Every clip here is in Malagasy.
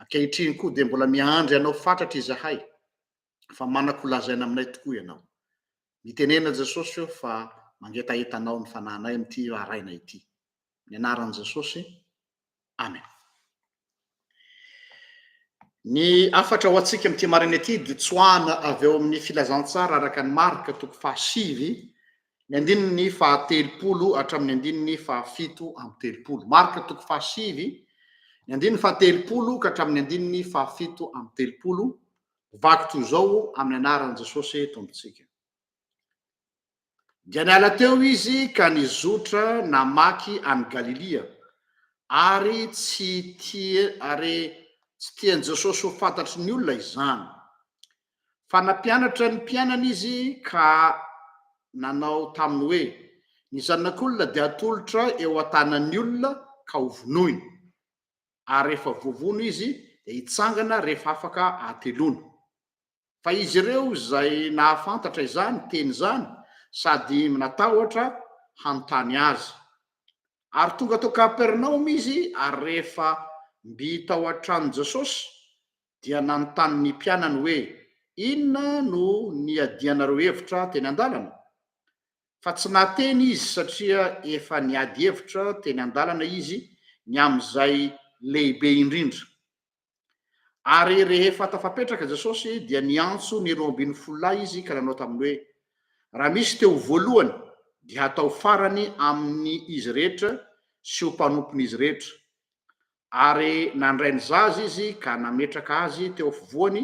Ankehitriny koa dia mbola miandry anao fatratra izahay, fa manako ho lazaina aminay tokoa ianao. Mitenena Jesosy ô fa mangetaheta anao ny fanahinay amin'ity raharainay ity. Amin'ny anaran'i Jesosy, Amen. Ny hafatra ho antsika amin'ity maraina ity dia tsoahana avy ao amin'ny filazantsara araka ny Marka toko fahasivy Ny andininy fahatelopolo hatramin'ny andininy fahafito amby telopolo. Marka toko fahasivy, ny andininy fahatelopolo ka hatramin'ny andininy fahafito amby telopolo, vaky toy izao amin'ny anaran'i Jesosy Tompontsika. Dia niala teo izy ka nizotra namaky an'i Galilia, ary tsy tia, ary tsy tian'i Jesosy ho fantatry ny olona izany. fa nampianatra ny mpianany izy ka nanao taminy hoe, Ny Zanak'olona dia hatolotra eo an-tanan'ny olona ka hovonoina, ary rehefa voavono izy dia hitsangana rehefa afaka hateloana. Fa izy ireo izay nahafantatra izany teny izany sady natahotra hanontany azy. Ary tonga tao Kapernaomy izy, ary rehefa mby tao an-tranon'i Jesosy, dia nanontany ny mpianany hoe, Inona no niadianareo hevitra teny an-dalana? Fa tsy nahateny izy satria efa niady hevitra teny an-dalana izy ny amin'izay lehibe indrindra. Ary rehefa tafapetraka Jesosy, dia niantso ny roa ambin'ny folo lahy izy ka nanao taminy hoe, Raha misy te ho voalohany, dia hatao farany amin' izy rehetra sy ho mpanompon'izy rehetra. Ary nandray ny zaza izy ka nametraka azy teo afovoany,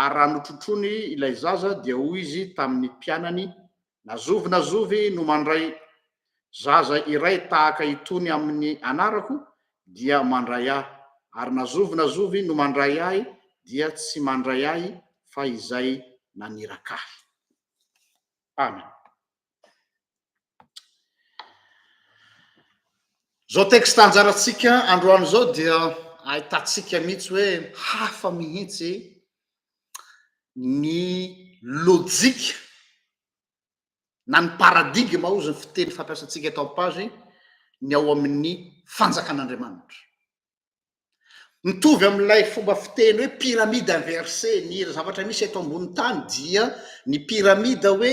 ary raha notrotroiny ilay zaza, dia hoy izy tamin' ny mpianany, Na zovy na zovy no mandray zaza iray tahaka itony amin' ny anarako, dia mandray ahy, ary na zovy na zovy no mandray ahy, dia tsy mandray ahy, fa izay naniraka ahy. Amen. Izao texte anjarantsika androany izao dia ahitantsika mihitsy hoe hafa mihitsy ny lojika na ny paradigme hozy ny fiteny fampiasantsika eto amin'ny page ny ao amin'ny fanjakan'Andriamanitra. Mitovy amin'ilay fomba fiteny hoe pyramide inversé, ny zavatra misy eto ambonin'ny tany dia ny pyramide hoe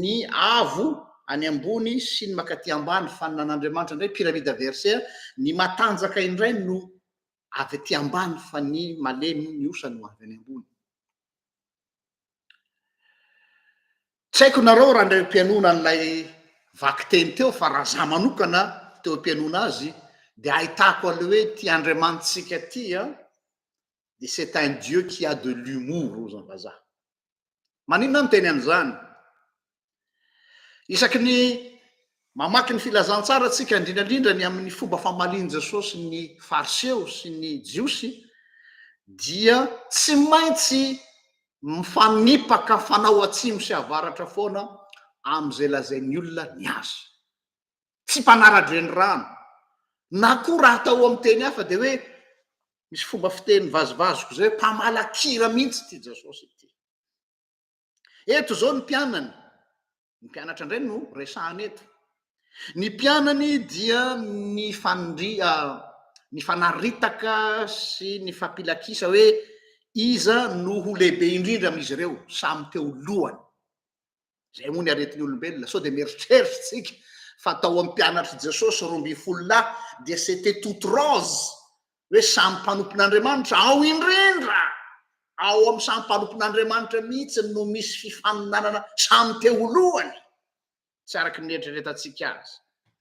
ny avo any ambony sy ny makaty ambany, fa ny nan'Andriamanitra indray pyramide inversé, ny matanjaka indray no avy aty ambany fa ny malemy, ny osa no avy any ambony. Tsy haiko nareo raha indray mpianona an'ilay vaky teny teo fa raha za manokana teo mpianona azy de ahitako an'le hoe ity Andriamanitsika ity an de c'est un Dieu qui a de l'humour hoy zany vazaha. Maninona aho miteny an'izany? Isaky ny mamaky ny Filazantsara tsika, indrindrandrindra ny amin'ny fomba famalian'i Jesosy ny Fariseo sy ny Jiosy, dia tsy maintsy mifanipaka fanao atsimo sy avaratra foana amin'izay lazain'ny olona ny azy. Tsy mpanara-drenirano, na koa raha atao amin'ny teny hafa dia hoe misy fomba fiteny vazivaziko izay hoe mpamala kira mihitsy ity Jesosy ity. Eto izao ny mpianany, ny mpianatra indray no resahana eto. Ny mpianany dia ny fanri ny fanaritaka sy ny fampilakisa hoe iza no ho lehibe indrindra amin'izy ireo samy teo lohany. Izay moa ny aretin'ny olombelona, sao dia mieritreritra isika fa tao amin'ny mpianatr'i Jesosy roa ambin'ny folo lahy dia c'était toute rose hoe samy mpanompon'Andriamanitra, ao indrindra ao amin'ny samy mpanompon'Andriamanitra mihitsy no misy fifaninanana samy te ho lohany, tsy araka ny eritreretantsika azy.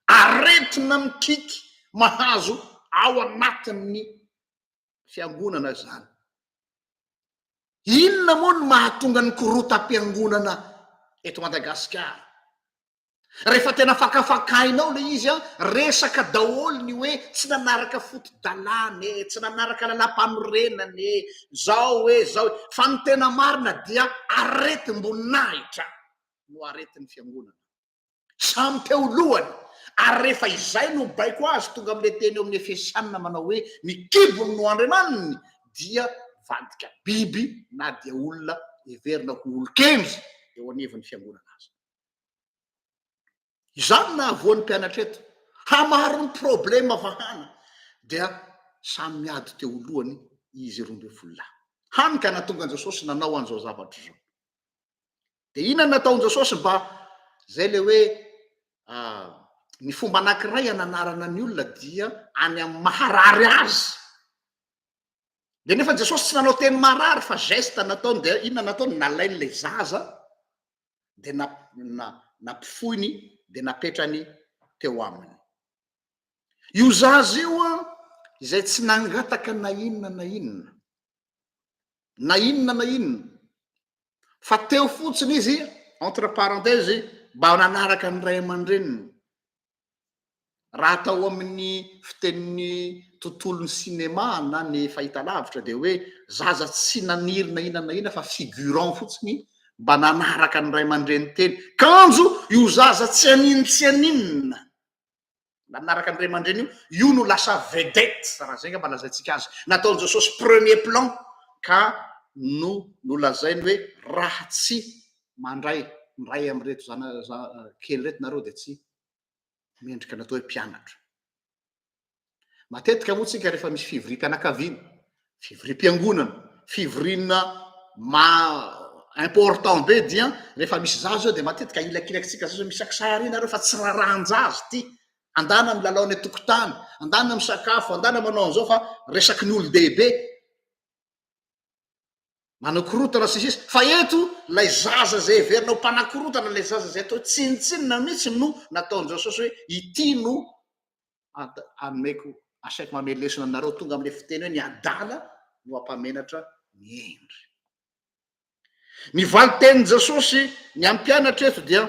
Aretina mikiky mahazo ao anatin'ny fiangonana izany. Inona moa no mahatonga ny korotam-piangonana eto Madagasikara? Rehefa tena fakafakainao ilay izy an, resaka daholo ny hoe tsy nanaraka foto-dalàna e, tsy nanaraka lalàmpanorenana e, zao e, zao e. Fa ny tena marina dia aretim-boninahitra no aretin'ny fiangonana. Samy teo lohany. Ary rehefa izay no baiko azy tonga amin'ilay teny ao amin'ny Efesiana manao hoe ny kibony no andriamaniny dia vadika biby na dia olona heverina ho olon-kendry eo anivon'ny fiangonana aza. Izany no nahavoan'ny mpianatra eto. Hamaro ny problema vahana dia samy miady teo lohany izy roa ambin'ny folo lahy. Hany ka nahatonga an'i Jesosy nanao an'izao zavatra izao. Dia inona no nataon'i Jesosy mba izay ilay hoe ah, ny fomba anankiray hananarana ny olona dia any amin'ny maharary azy. Dia nefa Jesosy tsy nanao teny marary fa geste nataony dia inona nataony? Nalainy ilay zaza dia na, na, nampifoiny dia napetrany teo aminy. Io zaza io an, izay tsy nangataka na inona na inona, na inona na inona, fa teo fotsiny izy, entre parenthèses, mba nanaraka ny ray aman-dreniny, Raha atao amin'ny fitenin'ny tontolon'ny sinema na ny fahitalavitra dia hoe zaza tsy naniry na inona na inona fa figurant fotsiny mba nanaraka ny ray aman-dreny teny. Kanjo io zaza tsy haninona tsy haninona nanaraka ny ray aman-dreny io, io no lasa vedette, raha izay angamba lazaintsika azy. Nataon'i Jesosy premier plan ka no nolazainy hoe raha tsy mandray miray amin'ireto zanakely ireto nareo dia tsy mendrika ny atao hoe mpianatra. Matetika moa tsika rehefa misy fivoriam-pianakaviana, fivoriam-piangonana, fivoriana ma important be dia rehefa misy zaza zao dia matetika ilakilakintsika zaza misy akisary nareo fa tsy rarahan-jaza ity. Andana milalao any an-tokotany, andana misakafo, andana manao an'izao fa resaky ny olon-dehibe. manakorotana sy ny sisa fa eto ilay zaza izay heverina ho mpanakorotana ilay zaza izay atao tsinontsinona mihitsy no nataon'i Jesosy hoe ity no anomeko asaiko manome lesona anareo tonga amin'ilay fiteny hoe ny adala no hampamenatra ny hendry ny valin-tenin'i Jesosy ny hampianatra eto dia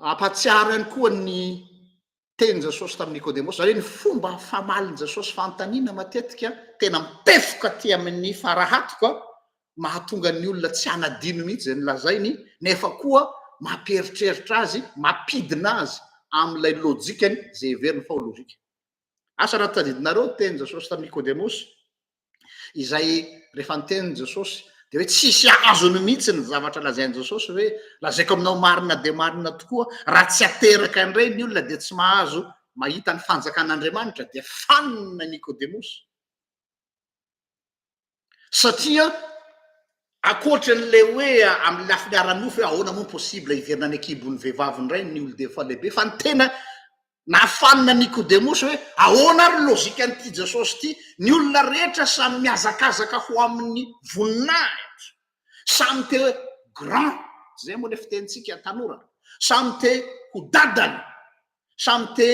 hampatsiaro ihany koa ny Tenin'i Jesosy tamin'i Nikodemosy, izany hoe ny fomba famalin'i Jesosy fanontaniana matetika tena mipefoka aty amin'ny farahatiko, mahatonga ny olona tsy hanadino mihitsy izay nolazainy, nefa koa mampieritreritra azy, mampidina azy amin'ilay lojikany izay heveriny fa ho lojika. Asa raha tadidinareo ny tenin'i Jesosy tamin'i Nikodemosy? izay rehefa nitenin'i Jesosy dia hoe tsisy azony mihitsy ny zavatra lazain'i Jesosy hoe lazaiko aminao marina dia marina tokoa raha tsy ateraka indray ny olona dia tsy mahazo mahita ny fanjakan'Andriamanitra dia fanina Nikodemosy satria akoatra an'ilay hoe amin'ny lafiny ara-nofo hoe ahoana moa possible hiverina any an-kibon'ny vehivavy indray ny olon-defa lehibe fa ny tena Nafanina Nikodemosy hoe, Ahoana ary ny lojikan'ity Jesosy ity? Ny olona rehetra samy mihazakazaka ho amin'ny voninahitra. Samy te hoe grand, izay moa ilay fitenintsika tanora. Samy te ho dadany. Samy te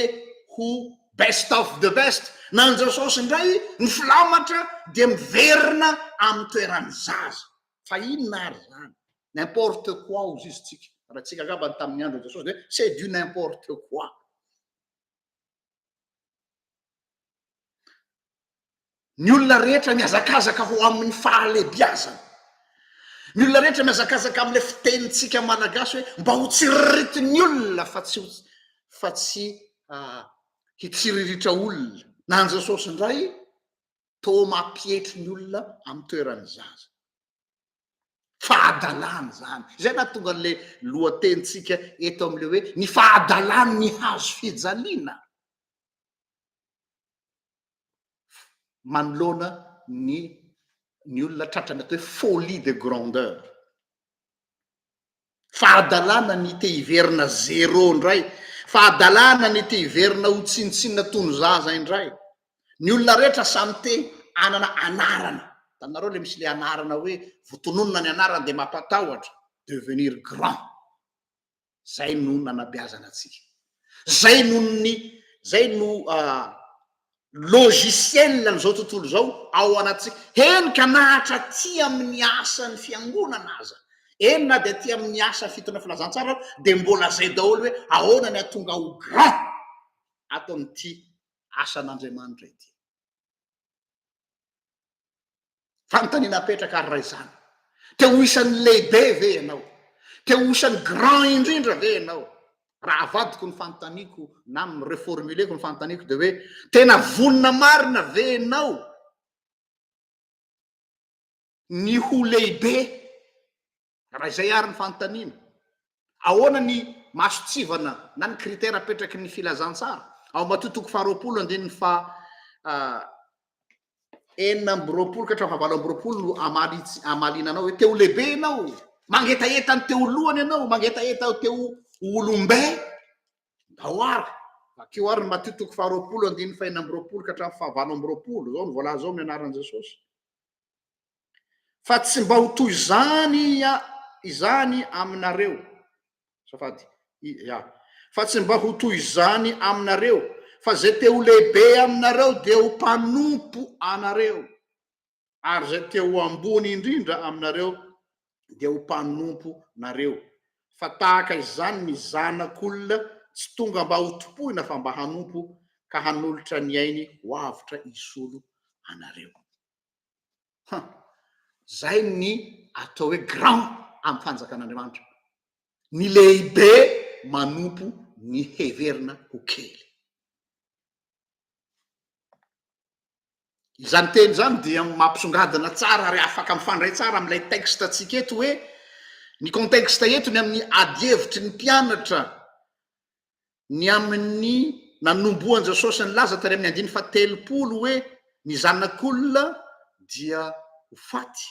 ho best of the best. Na an'i Jesosy indray, ny filamatra dia miverina amin'ny toeran'ny zaza. Fa inona ary izany? N'importe quoi hozy izy tsika. Raha tsika angamba ny tamin'ny andron'i Jesosy dia c'est du n'importe quoi. Ny olona rehetra mihazakazaka ho amin'ny fahalebiazana. Ny olona rehetra mihazakazaka amin'ilay fitenintsika malagasy hoe mba ho tsiriritin'ny olona fa tsy fa tsy ah, hitsiriritra olona. Na an'i Jesosy indray toa mampietry ny olona amin'ny toeran'ny zaza. Fahadalana izany. Izay nahatonga an'ilay lohatenintsika eto amin'ilay hoe ny fahadalan'ny hazo fijaliana manoloana ny ny olona tratrany atao hoe folie de grandeur. fa adalana ny te hiverina zero indray, fa adalana ny te hiverina ho tsinontsinona toy ny zaza indray. Ny olona rehetra samy te hanana anarana, hitanareo le misy le anarana hoe vao tononina ny anarana dia mampatahotra, devenir grand, zay no nanabeazana antsika. Zay no ny zay no logiciel an'izao tontolo izao ao anatintsika. Eny ka na hatraty amin'ny asan'ny fiangonana aza, eny na dia aty amin'ny asa fitoriana filazantsara aza dia mbola zay daholo hoe ahoana ny hahatonga ho grand ato amin'ity asan'Andriamanitra ity. Fanontaniana apetraka ary raha izany, te ho isan'ny lehibe ve ianao? Te ho isan'ny grand indrindra ve ianao? Raha avadiko ny fanontaniako na mi-reformuler-ko ny fanontaniako dia hoe tena vonona marina ve ianao ny ho lehibe? Raha izay ary ny fanontaniana, ahoana ny mahasotsivana na ny critère apetraky ny filazantsara? Ao Matio toko faharoapolo andininy faha enina amby roapolo ka hatramin'ny fahavalo amby roapolo no hamaliana anao hoe te ho lehibe ianao, mangetaheta ny te ho lohany ianao, mangetaheta te ho olom-be. Ndao ary, vakio ary ny Matio toko faharoapolo andininy fahenina amby roapolo ka hatramin'ny fahavalo amby roapolo, izao no voalaza ao amin'ny anaran'i Jesosy. Fa tsy mba ho toy izany izany aminareo, azafady, ia, fa tsy mba ho toy izany aminareo, fa izay te ho lehibe aminareo dia ho mpanompo anareo, ary izay te ho ambony indrindra aminareo dia ho mpanompo nareo. Fa tahaka izany ny Zanak'olona tsy tonga mba ho tompoina fa mba hanompo, ka hanolotra ny ainy ho avotra hisolo anareo. Ha! Zay ny atao hoe grand am fanjakan'Andriamanitra. Ny lehibe manompo ny heverina ho kely. Izany teny izany dia mampisongadina tsara ary afaka mifandray tsara amin'ilay texte antsika eto hoe ny contexte eto ny amin'ny ady hevitry ny mpianatra ny amin'ny nanombohan-Jasosy nilaza tany amin'ny andininy fahatelopolo hoe ny Zanak'olona dia ho faty.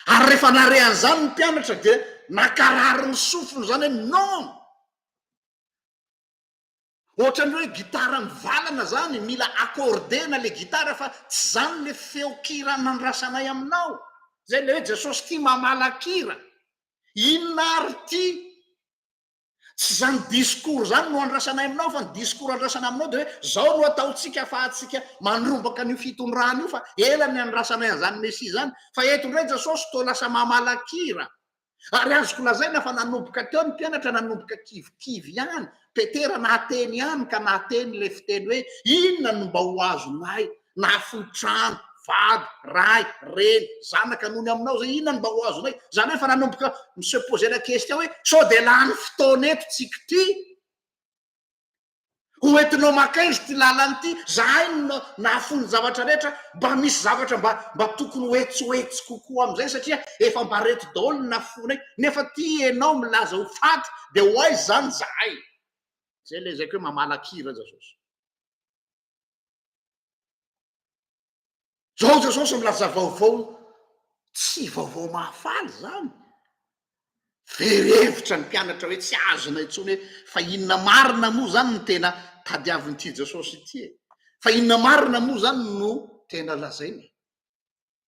Ary rehefa nare an'izany ny mpianatra dia nakarary ny sofiny izany hoe non! Ohatran'ny hoe gitara mivalana izany, mila accordena ilay gitara fa tsy izany ilay feon-kira nandrasanay aminao. Izay ilay hoe Jesosy tia mamalan-kira. Inona ary ity? Tsy izany discours izany no andrasanay aminao fa ny discours andrasana aminao dia hoe izao no ataontsika afahantsika mandrombaka an'io fitondrana io fa ela ny andrasanay an'izany Messie izany fa eto indray Jesosy toa lasa mamalakira ary azoko lazaina fa nanomboka teo ny mpianatra nanomboka kivikivy ihany Petera nahateny ihany ka nahateny ilay fiteny hoe inona no mba ho azonay na fohy trano, vady, ray, reny, zanaka noho ny aminao zay inona no mba ho azonay? Zany hoe efa nanomboka mi se poser la question hoe sao dia lany fotoana eto tsiky ity? Ho entinao maka aiza ity lalana ity? Zahay no nahafoy ny zavatra rehetra, mba misy zavatra mba mba tokony ho etsy ho etsy kokoa amin'izay satria efa mba reto daholo ny nafoinay nefa ity ianao milaza ho faty dia ho aiza izany zahay? Zay ilay ezaka hoe mamalakira aza zao. Zao Jesosy milaza vaovao tsy vaovao mahafaly izany. Very hevitra ny mpianatra hoe tsy azona intsony hoe fa inona marina moa izany no tena tadiavin'ity Jesosy ity e? Fa inona marina moa izany no tena lazainy?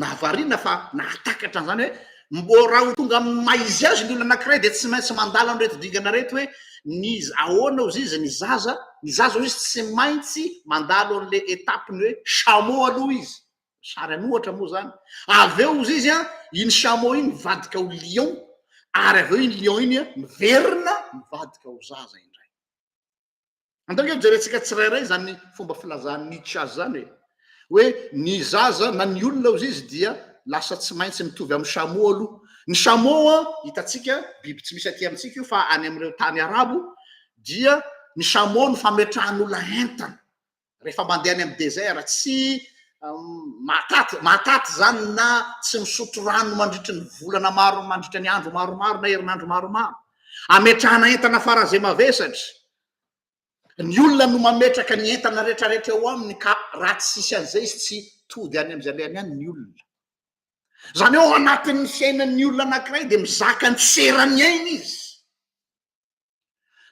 Nahavariana fa nahatakatra an'izany hoe mbo raha ho tonga amin'ny maha izy azy ny olona anankiray dia tsy maintsy mandalo an'ireto dingana ireto hoe ny ahoana hozy izy ny zaza, ny zaza hozy izy tsy maintsy mandalo an'ilay étape ny hoe chameau aloha izy, sary an'ohatra moa izany, avy eo hozy izy an, iny chameau iny mivadika ho lion ary avy eo iny lion iny miverina mivadika ho zaza indray. Andao nge jerentsika tsirairay izany fomba filazan'i Nietzsche azy izany hoe hoe ny zaza na ny olona hozy izy dia lasa tsy maintsy mitovy amin'ny chameau aloha. Ny chameau an, hitantsika biby tsy misy aty amintsika io fa any amin'ireo tany arabo dia ny chameau no fametrahan'olona entana. rehefa mandeha any amin'ny désert tsy mahataty mahataty zany na tsy misotro rano mandritry ny volana maro mandritry ny andro maromaro na herinandro maromaro ametrahana entana faran'izay mavesatra ny olona no mametraka ny entana retraretra eo aminy ka raha tsy sisy an'izay izy tsy tody any am'izay lehany any ny olona zany eo anatin'ny fiainan'ny olona anankiray de mizaka ny seran'ny aina izy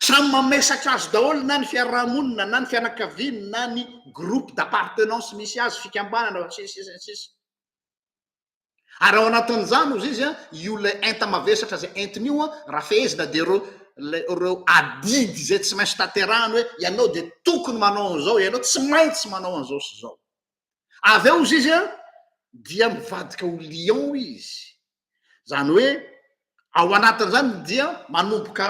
Samy mamesatra azy daholo na ny fiarahamonina na ny fianakaviany na ny groupe d'appartenance misy azy, fikambanana sy ny sisa ny sisa. Ary ao anatin'izany ozy izy io ilay enta-mavesatra izay entiny io raha fehezina dia ireo ireo adidy izay tsy maintsy tanterahany hoe ianao dia tokony manao an'izao, ianao tsy maintsy manao an'izao sy izao. Avy eo hozy izy dia mivadika ho lion izy, izany hoe ao anatin'izany dia manomboka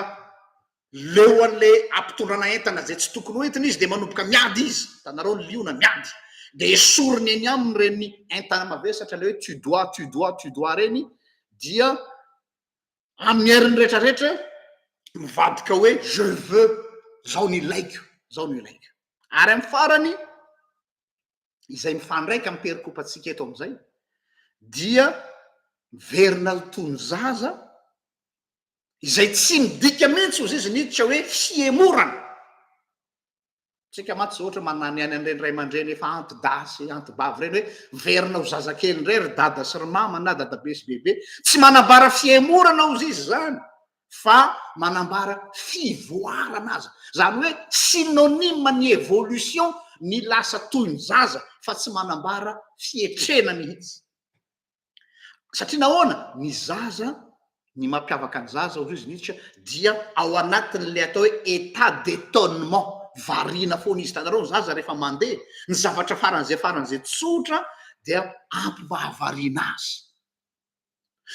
leo an'ilay ampitondrana entana izay tsy tokony ho entiny izy dia manomboka miady izy, hitanareo ny liona miady, dia esoriny eny aminy ireny entana mavesatra ilay hoe tu dois, tu dois, tu dois ireny dia amin'ny heriny rehetra rehetra mivadika hoe je veux, izao no ilaiko, izao no ilaiko. Ary amin'ny farany izay mifandraika amin'ny perikopantsika eto amin'izay dia miverina ny toy ny zaza izay tsy midika mihitsy ozy izy niditra hoe fihemorana tsika mantsy zao ohatra manany any an'ireny ray aman-dreny efa antidahy sy antibavy ireny hoe miverina ho zazakely indray ry dada sy ry mama na dadabe sy bebe tsy manambara fihemorana ozy izy izany fa manambara fivoarana aza. Izany hoe synonyme ny evolution ny lasa toy ny zaza fa tsy manambara fietrena mihitsy. Satria nahoana? Ny zaza, ny mampiavaka ny zaza hoy izy Nietzsche dia ao anatin'ilay atao hoe état d'étonnement, variana foana izy. Hitanareo ny zaza rehefa mandeha, ny zavatra faran'izay faran'izay tsotra dia ampivahavariana azy.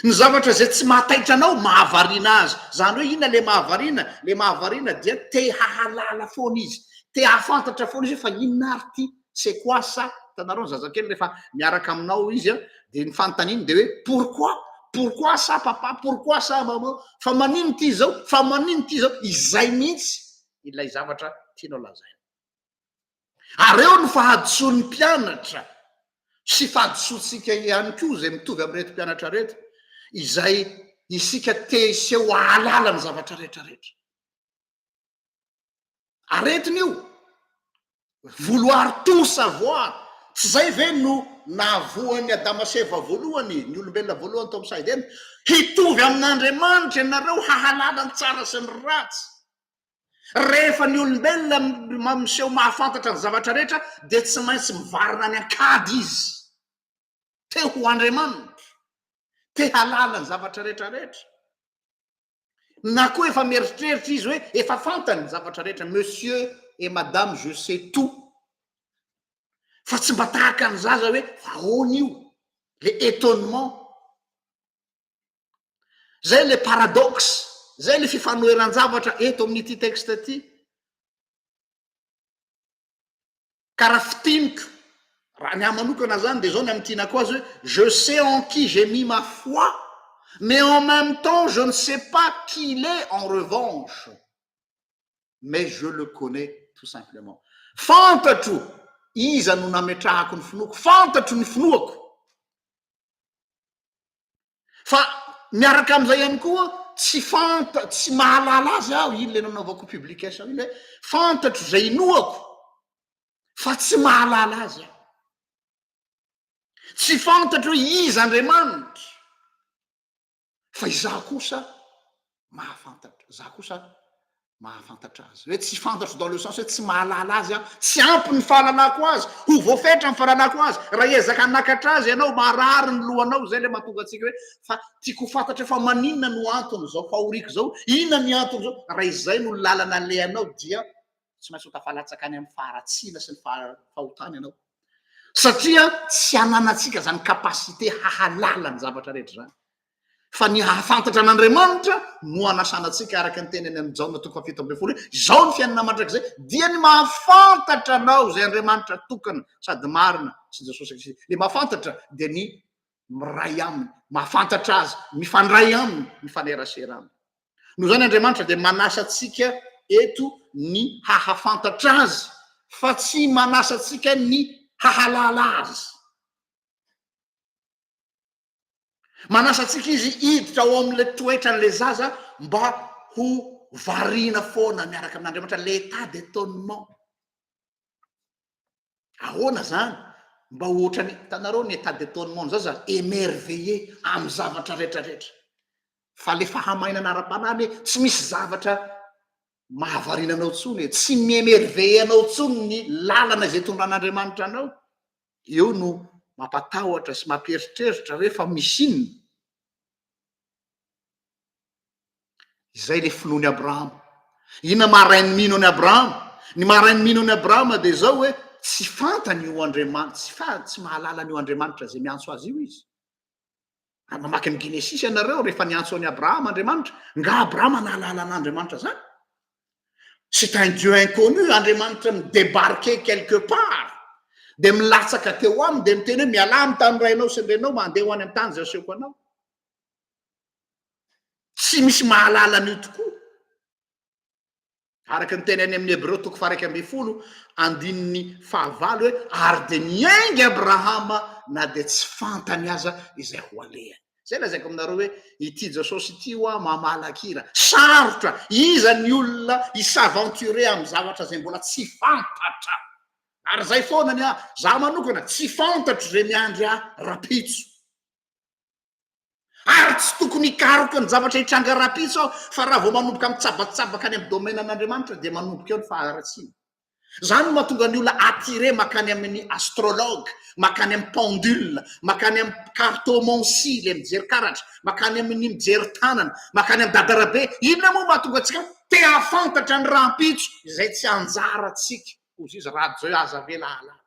Ny zavatra izay tsy mahataitra anao, mahavariana azy. Izany hoe inona ilay mahavariana? Ilay mahavariana dia te hahalala foana izy, te hahafantatra foana izy hoe fa inona ary ity, c'est quoi ça? Hitanareo ny zazakely rehefa miaraka aminao izy dia ny fanontaniany dia hoe pourquoi? Pourquoi ça papa? Pourquoi ça maman? Fa maninona ity izao? Fa maninona ity izao? Izay mihitsy ilay zavatra tianao lazaina. ary eo ny fahadisoan'ny mpianatra sy fahadisoantsika ihany koa izay mitovy amin'ireto mpianatra reto izay isika te hiseho ahalala ny zavatra rehetrarehetra aretina io vouloir tout savoir tsy zay ve no nahavoan'ny adama seva voalohany ny olombelona voalohany tao am'saidena hitovy amin'andriamanitra ianareo hahalala ny tsara sy ny ratsy Rehefa ny olombelona miseho mahafantatra ny zavatra rehetra, dia tsy maintsy mivarina any an-kady izy. Te ho andriamanitra, te hahalala ny zavatra rehetrarehetra. Na koa efa mieritreritra izy hoe efa fantany ny zavatra rehetra, monsieur et madame je sais tout. Fa tsy mba tahaka ny zaza hoe ahoana io, le étonnement. Izay ilay paradoxe, izay ilay fifanoheran-javatra eto amin'ity texte ity. Ka raha fintiniko, raha ny ahy manokana izany dia izao ny amin'ny tianako azy hoe, je sais en qui j'ai mis ma foi, mais en même temps je ne sais pas qui il est en revanche, mais je le connais tout simplement. Fantatro iza no nametrahako ny finoako, fantatro ny finoako. Fa miaraka amin'izay ihany koa tsy fanta tsy mahalala azy aho iny le nanaovako publication iny hoe fantatro izay inoako fa tsy mahalala azy aho tsy fantatro hoe iza andriamanitra fa izaho kosa mahafantatra za kosa mahafantatra azy hoe tsy fantatro dans le sens hoe tsy mahalala azy aho tsy ampy ny fahalalako azy ho voafetra ny fahalalako azy raha ezaka hanakatra azy ianao maharary ny lohanao zay le mahatonga antsika hoe fa tiako ho fantatra fa maninona no antony zao fahoriako zao inona ny antony zao raha izay no lalana alehanao dia tsy maintsy ho tafalatsaka any amin'ny faharatsiana sy ny fahotana ianao satria tsy ananantsika zany capacité hahalala ny zavatra rehetra zany fa ny hahafantatra an'Andriamanitra no anasana antsika araka ny teny any amin'ny Jaona toko fahafito ambin'ny folo hoe izao ny fiainana mandrakizay dia ny mahafantatra anao izay Andriamanitra tokana sady marina sy Jesosy Kristy. Ilay mahafantatra dia ny miray aminy, mahafantatra azy, mifandray aminy, mifanerasera aminy. Noho izany Andriamanitra dia manasa antsika eto ny hahafantatra azy fa tsy manasa antsika ny hahalala azy. Manasa antsika Izy hiditra ao amin'ilay toetran'ilay zaza mba ho variana foana miaraka amin'Andriamanitra, l'état d'étonnement. Ahoana izany? Mba ho ohatran'ny, hitanareo ny état d'étonnement zaza, émerveillé amin'ny zavatra rehetrarehetra. Fa ilay fahamainana ara-panahy anie tsy misy zavatra mahavariana anao intsony e, tsy mi-émerveillé anao intsony ny lalana izay itondran'Andriamanitra anao. eo no mampatahotra sy mampieritreritra hoe fa misy inona? Izay ilay finoan'i Abrahama. Inona maha rain'ny mino an'i Abrahama? Ny maha rain'ny mino an'i Abrahama dia izao hoe tsy fantany io Andriamanitra, tsy fa tsy mahalala an'io Andriamanitra izay miantso azy io izy. Ary mamaky ny Genesisy ianareo rehefa niantso an'i Abrahama Andriamanitra. Nga Abrahama nahalala an'Andriamanitra zany? C'est un Dieu inconnu, Andriamanitra mi-débarquer quelque part. Dia milatsaka teo aminy dia miteny hoe mialà amin'ny tany rainao sy ny renao mba handeha ho any amin'ny tany izay asehoko anao. Tsy misy mahalala an'io tokoa. Araka ny teny any amin'ny Hebreo toko faha-iraika ambin'ny folo, andininy fahavalo hoe, Ary dia niainga Abrahama na dia tsy fantany aza izay ho alehany. Izay lazaiko aminareo hoe, ity Jesosy ity hoa mamahala kira. Sarotra! Iza ny olona hi-s'aventurer amin'ny zavatra izay mbola tsy fantatra? Ary izay foana ny ahy, izaho manokana, tsy fantatro izay miandry ahy rahampitso. Ary tsy tokony hikaroka ny zavatra hitranga rahampitso aho, fa raha vao manomboka mitsabatsabaka any amin'ny domaine-n'Andriamanitra dia manomboka eo ny faharatsiana. Izany no mahatonga ny olona attiré makany amin'ny astrologue, makany amin'ny pendule, makany amin'ny cartomancie, ilay mijery karatra, makany amin'ny mijery tanana, makany amin'ny dadarabe. Inona moa mahatonga antsika te hahafantatra ny rahampitso izay tsy anjarantsika? Hoy Zizy, Raha Dieu aza ve lahalala?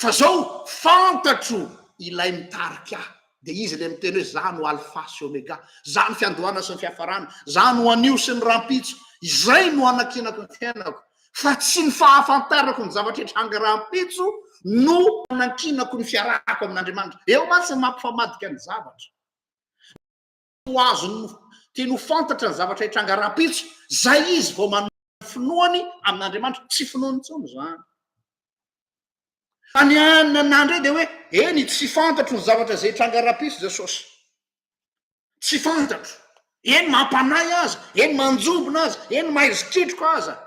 Fa zao fantatro ilay mitarika ahy, dia izy ilay miteny hoe za no alfa sy omega, za ny fiandohana sy ny fiafarana, za no anio sy ny rahampitso, izay no anankinako ny fiainako, fa tsy ny fahafantarako ny zavatra hitranga rahampitso no anankinako ny fiarahako amin'Andriamanitra. Eo mantsy ny mampifamadika ny zavatra. ho azony tiany ho fantatra ny zavatra hitranga rahampitso, izay izy vao manome ny finoany amin'Andriamanitra. Tsy finoany intsony izany. Fa ny anona nandre dia hoe, eny, tsy fantatro ny zavatra izay hitranga rahampitso, Jesosy. Tsy fantatro. Eny, mampanahy aza, eny, manjombona aza, eny, mahaizy ketroka aza.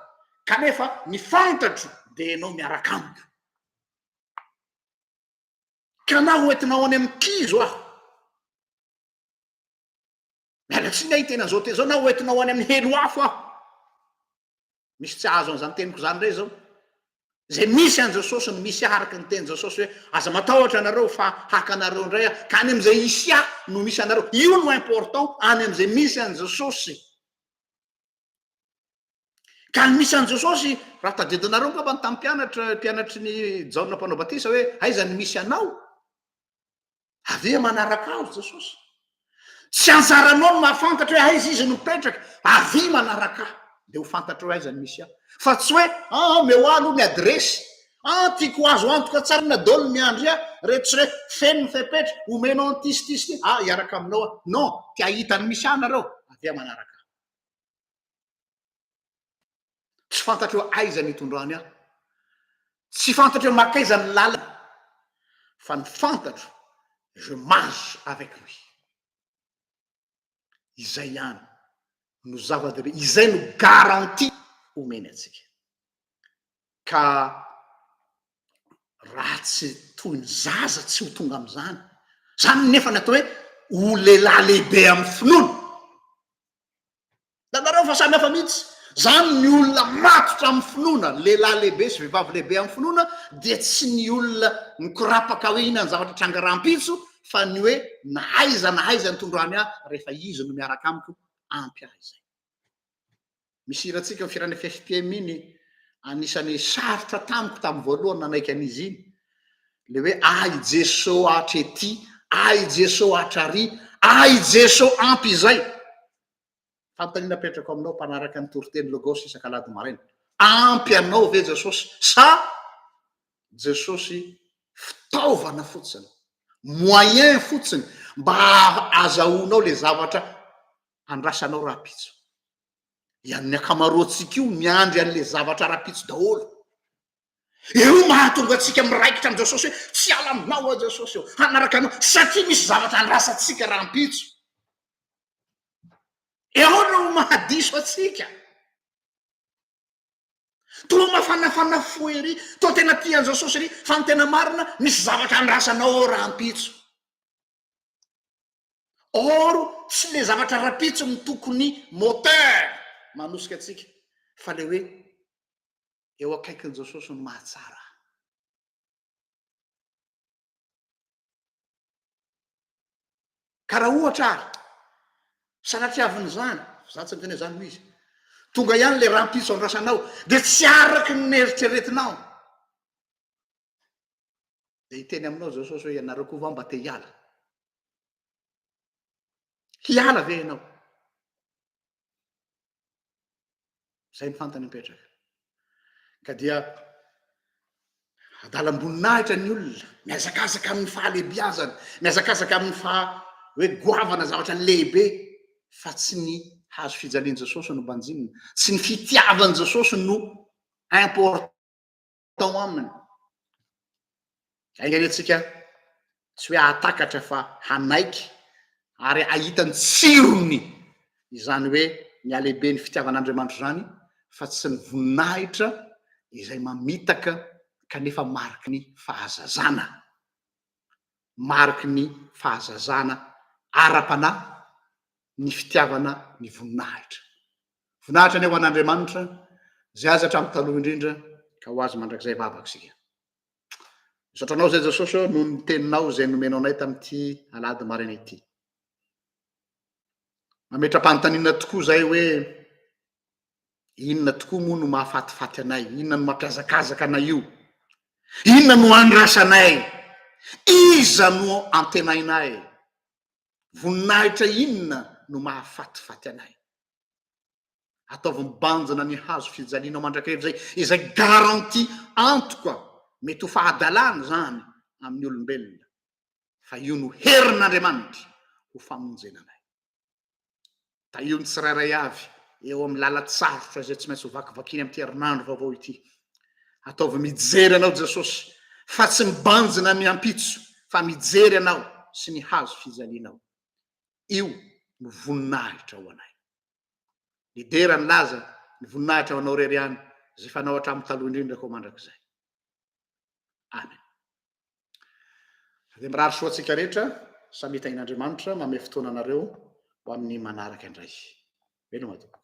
Kanefa ny fantatro dia ianao miaraka amiko. Ka na hoentinao any amin'ny kizo aho, Miala tsiny aho hiteny an'izao teny izao na hoentina ho any amin'ny helo afo aho. Misy tsy hahazo an'izany teniko izany indray izao. Izay misy an'i Jesosy no misy ahy araka ny tenin'i Jesosy hoe aza matahotra ianareo fa haka anareo indray aho. Ka any amin'izay hisy ahy no misy anareo. Io no important, any amin'izay misy an'i Jesosy. Ka ny misy an'i Jesosy, raha tadidinareo angamba ny tamin'ny mpianatra, mpianatry ny Jaona mpanao batisa hoe aiza ny misy anao? Avy eo manaraka azy Jesosy. Tsy anjaranao ny mahafantatra hoe aiza izy no mipetraka. Avy eo manaraka ahy dia ho fantatrao hoe aiza no misy ahy. Fa tsy hoe an, omeo ahy aloha ny adiresy. An, tiako azo antoka tsara na dol miandry ahy. Reto sy reto, feno ny fepetra, omenao an'ity sy ity sy ity. Ah, hiaraka aminao aho. Non, te hahita ny misy ahy nareo. Avy eo manaraka ahy. Tsy fantatreo aiza ny hitondrany ahy. Tsy fantatreo mankaiza ny lalana. Fa ny fantatro, je marche avec lui. Izay ihany no zava-dehibe, izay no garantie omeny antsika. Ka raha tsy toy ny zaza tsy ho tonga amin'izany, izany nefa ny atao hoe ho lehilahy lehibe amin'ny finoana, Hitanareo fa samy hafa mihitsy. Izany ny olona matotra amin'ny finoana, ny lehilahy lehibe sy vehivavy lehibe amin'ny finoana dia tsy ny olona mikorapaka hoe inona ny zavatra tranga rahampitso fa ny hoe na aiza na aiza ny tondrany ahy rehefa izy no miaraka amiko ampy ahy izay. Misy hirantsika ny firan'ny FFPM iny, anisan'ny sarotra tamiko tamin'ny voalohany nanaiky an'izy iny Le hoe ah i Jeso hatrety, ah i Jeso hatrary, ah i Jeso ampy izay. Fanontaniana apetrako aminao mpanaraka ny toriteny Logos isak'alahady maraina, ampy anao ve Jesosy sa Jesosy fitaovana fotsiny, moyen fotsiny mba azahoanao le zavatra andrasanao rahampitso? Ian'ny ankamaroantsika io miandry an'le zavatra rahampitso daholo. Io mahatonga antsika miraikitra amin'i Jesosy hoe tsy hiala aminao aho Jesosy ô, hanaraka anao satria misy zavatra andrasantsika rahampitso. Eo no mahadiso antsika. Toa mafanafana fo ery, toa tena tia an'i Jesosy ery, fa ny tena marina misy zavatra andrasanao ao rahampitso. or tsy le zavatra rapitso no tokony moteur manosika antsika fa le hoe eo akaikin'i Jesosy no mahatsara. Ka raha ohatra ary sanatria avy n'izany, za tsy miteny hoe zany no izy, tonga ihany le rampitso andrasanao dia tsy araky ny neritreretinao, Dia hiteny aminao Jesosy hoe ianareo koa va mba te hiala? Hiala ve ianao? Izay ny fantany mipetraka. Ka dia adalam-boninahitra ny olona, mihazakazaka amin'ny fahalehibiazana, mihazakazaka amin'ny faha hoe goavana zavatra lehibe fa tsy ny hazo fijalian'i Jesosy no banjinina, tsy ny fitiavan'i Jesosy no important tao aminy. Enga anie tsika tsy hoe atakatra fa hanaiky ary ahita ny tsirony izany hoe ny alehibe ny fitiavan'Andriamanitra izany fa tsy ny voninahitra izay mamitaka kanefa mariky ny fahazazana. Mariky ny fahazazana ara-panahy ny fitiavana ny voninahitra. Voninahitra anie ho an'Andriamanitra izay azy hatramin'ny taloha indrindra ka ho azy mandrakizay vavaka isika. Misaotra anao izay Jesosy ô noho ny teninao izay nomenao anay tamin'ity alahady maraina ity. Mametra-panontaniana tokoa izay hoe inona tokoa moa no mahafatifaty anay, inona no mampiazakazaka anay io, inona no andrasanay, iza no antenainay. Voninahitra inona no mahafatifaty anay? Ataovy mibanjina ny hazo fijalianao mandrakariva izay, izay garantie antoka, mety ho fahadalana izany amin'ny olombelona, fa io no herin'Andriamanitra ho famonjena anay. Tahio ny tsirairay avy eo amin'ny lalan-tsarotra izay tsy maintsy ho vakivakiany amin'ity herinandro vaovao ity. Ataovy mijery anao Jesosy fa tsy mibanjina ny ampitso fa mijery anao sy ny hazo fijalianao. Io no voninahitra ho anay. Lidera ny laza ny voninahitra ho anao irery ihany izay fanao hatramin'ny taloha indrindra koa mandrakizay. Amen. Dia mirary soa antsika rehetra samia tahin'Andriamanitra manome fotoana anareo ho amin'ny manaraka indray. Veloma tompoko.